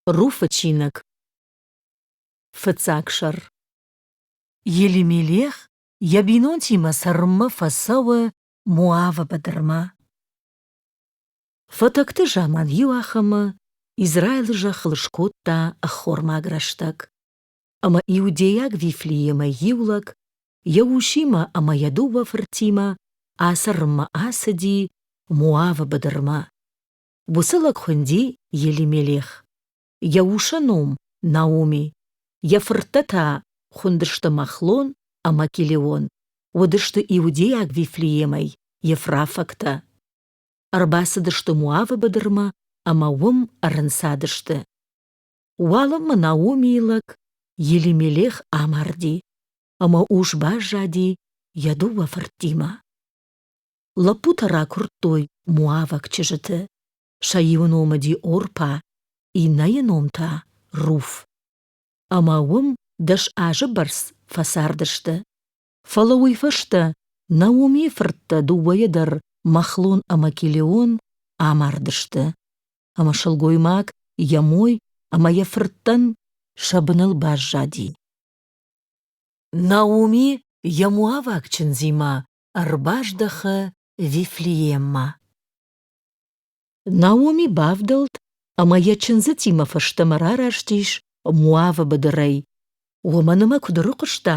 Руфы чиныг Фыццаг сӕр Елимелех йӕ бинонтимӕ цӕрынмӕ фӕцӕуы Моавы быдырмӕ. Фӕтӕгты заман иу ахӕмы Израилы зӕххыл скодта ӕххормаг рӕстӕг, ӕмӕ иудейаг Вифлеемӕ иу лӕг йӕ усимӕ ӕмӕ йӕ дыууӕ фыртимӕ ацӕрынмӕ ацыди Моавы быдырмӕ. Уыцы лӕг хуынди Елимелех. Йӕ усы ном Наоми. Йӕ фырттӕ та хуындысты Махлон ӕмӕ Килеон. Уыдысты иудейаг Вифлеемӕй ефрафӕгтӕ. Ӕрбацыдысты Моавы быдырмӕ ӕмӕ уым ӕрынцадысты. Уалынмӕ Наомийы лӕг Елимелех амарди, ӕмӕ ус баззади йӕ дыууӕ фырттимӕ. Лӕппутӕ ракуырдтой муӕвӕг чызджыты, сӕ-иу ном уыди Орпа, иннӕйы ном та — Руф. Ӕмӕ уым дӕс азы бӕрц фӕцардысты. Фӕлӕ уый фӕстӕ Наумийы фырттӕ дыууӕйӕ дӕр Махлон ӕмӕ Килеон амардысты, ӕмӕ сылгоймаг йӕ мой ӕмӕ йӕ фырттӕн сӕ быныл баззади. Науми йӕ муӕвӕг чындзимӕ ӕрбаздӕхы Вифлееммӕ. Наоми бавдӕлд ӕмӕ йӕ чындзытимӕ фӕстӕмӕ рарастис Моавы быдырӕй. Уымӕн ӕмӕ куыд ӕрыхъуыста,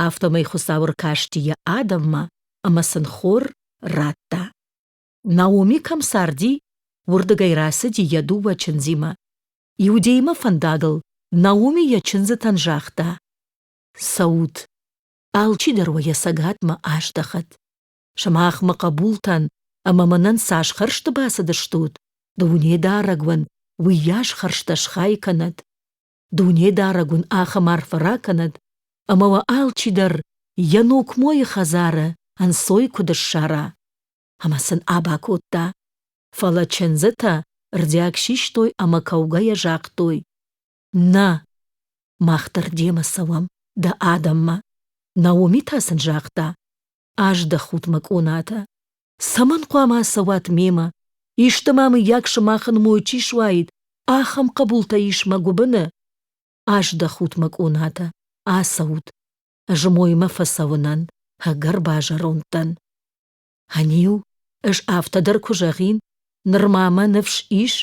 афтӕмӕй Хуыцау ӕркасти йӕ адӕммӕ ӕмӕ сын хор радта. Наоми кӕм царди, уырдыгӕй рацыди йӕ дыууӕ чындзимӕ. Иудеймӕ фӕндагыл Наоми йӕ чындзытӕн загъта: «Цӕут, Алчидӕр уӕ йӕ цӕгатмӕ аздӕхӕд. Сымахмӕ хъӕбултӕн ӕмӕ мӕнӕн цас хӕрзты бацыдыстут, Дунедарӕг уын уыйас хӕрзтӕ схай кӕнӕд. Дунедарӕг уын ахӕм арфӕ ракӕнӕд, ӕмӕ уӕ алчидӕр йӕ нокмойы хӕдзары ӕнцой куыд ссара. Ӕмӕ сын аба кодта. Фӕлӕ чындзытӕ рдиаг систой ӕмӕ кӕугӕйӕ загътой: Нӕ, мах дӕр демӕ цӕуӕм дӕ адӕммӕ. Наоми та сын загъта, аздӕхут мӕ къонатӕ. Цӕмӕн хъуамӕ ацӕуат мемӕ? Исты ма мыййаг сымахын мой чи суаид, ахӕм хъӕбултӕ ис мӕ гуыбыны? Аздӕхут мӕ къонатӕ, ацӕут. Ӕз моймӕ фӕцӕуынӕн, ӕгӕр базӕронд дӕн. Ӕниу, ӕз афтӕ дӕр куы зӕгъин, ныр ма мӕ ныфс ис?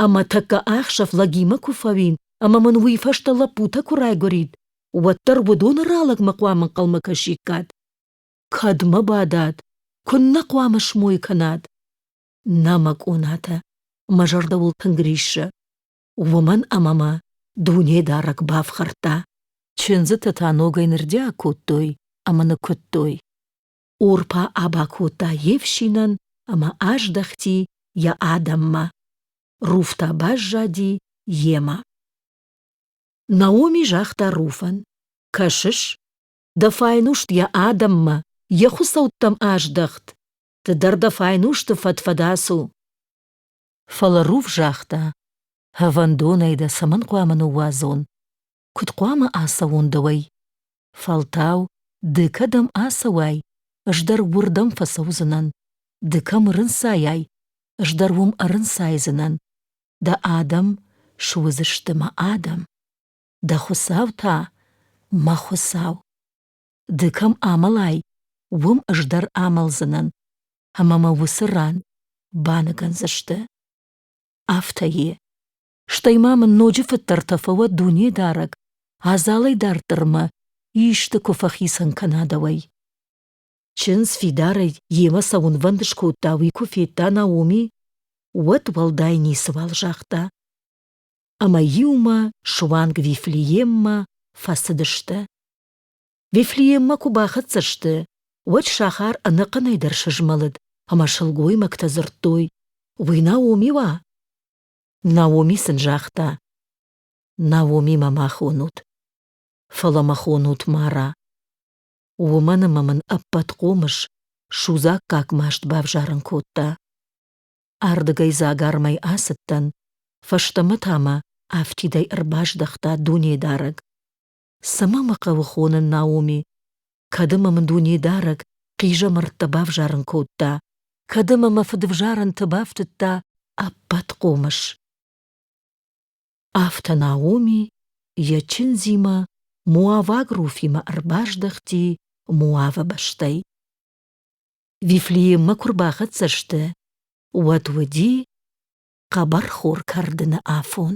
Ӕма тӕккӕ ӕхсӕв лӕгимӕ ку фӕуин, ӕма мин уой фӕстӕ лӕппутӕ ку райгурид, уӕддӕр уодони ралӕгмӕ хъуамӕ ӕнхъӕлмӕ кӕсиккат. Кӕд мӕ бадат, куннӕ хъуамӕ смой кӕнат? Нӕ, мӕ къонатӕ, мӕ зӕрдӕбӕл тынг риссӕ. Уомӕн ӕма мӕ дунедарӕг бафхӕрдта. Чындзитӕ та ногӕй нырдиаг кодтой ӕма нӕ куыдтой. Орпа аба кодта йе фсинӕн ӕмӕ аздӕхти йӕ адӕммӕ. Руфтӕ баззади йемӕ. Наоми загъта Руфӕн: Кӕсыс, дӕ файнуст йӕ адӕммӕ, йӕ хуыцӕуттӕм аздӕхт, ды дӕр дӕ файнусты фӕдфӕдас у. Фӕлӕ Руф загъта: Ӕвӕндонӕй дӕ цӕмӕн хъуамӕ ныууадзон? куд хъуамӕ ацӕуон дӕуӕй? Фӕлтау ды кӕдӕм ацӕуай, ӕз дӕр уырдӕм фӕцӕудзынӕн. Ды кӕм ӕрынцайай, ӕз дӕр уым ӕрынцайдзынӕн. Дӕ адӕм суыдзысты мӕ адӕм. Дӕ Хуыцау та мӕ Хуыцау. Ды кӕм амӕлай, уым ӕз дӕр амӕлдзынӕн, ӕмӕ мӕ уыцы ран баныгӕндзысты. Афтӕ и. Стӕй ма мын ноджы фыддӕртӕ фӕуӕд Дунедарӕг, адзалӕй дарддӕр мӕ исты куы фӕхицӕн кӕна дӕуӕй. Чындз фидарӕй йемӕ цӕуынвӕнд скодта, уый куы федта Наоми, уӕд уӕлдай ницыуал загъта. Ӕмӕ иумӕ суанг Вифлееммӕ фӕцыдысты. Вифлееммӕ куы бахӕццӕ сты, уӕд сахар ӕнӕхъӕнӕй дӕр сызмӕлыд, ӕмӕ сылгоймӕгтӕ дзырдтой, «Уый Наоми уа?» Наоми сын загъта: Наомимӕ ма хонут, фӕлӕ мӕ хонут Мара. Уымӕн ӕмӕ мын ӕппӕт хъомыс судзаггаг маст бавзарын кодта. Ардыгӕй дзагармӕй ацыдтӕн, фӕстӕмӕ та мӕ афтидӕй ӕрбаздӕхта Дунедарӕг. Цӕмӕ мӕ хъӕуы хонын Наоми? Кӕд ӕмӕ мын Дунедарӕг хъизӕмӕрттӕ бавзарын кодта, кӕд ӕмӕ мӕ фыдвзарӕнты бафтыдта ӕппӕт хъомыс. Афтӕ Наоми йӕ чындзимӕ Моаваг Руфимӕ ӕрбаздӕхти Моавы бӕстӕй. Вифлееммӕ куы рбахӕццӕ сты, уӕд уыди хъӕбӕрхор кӕрдыны афон.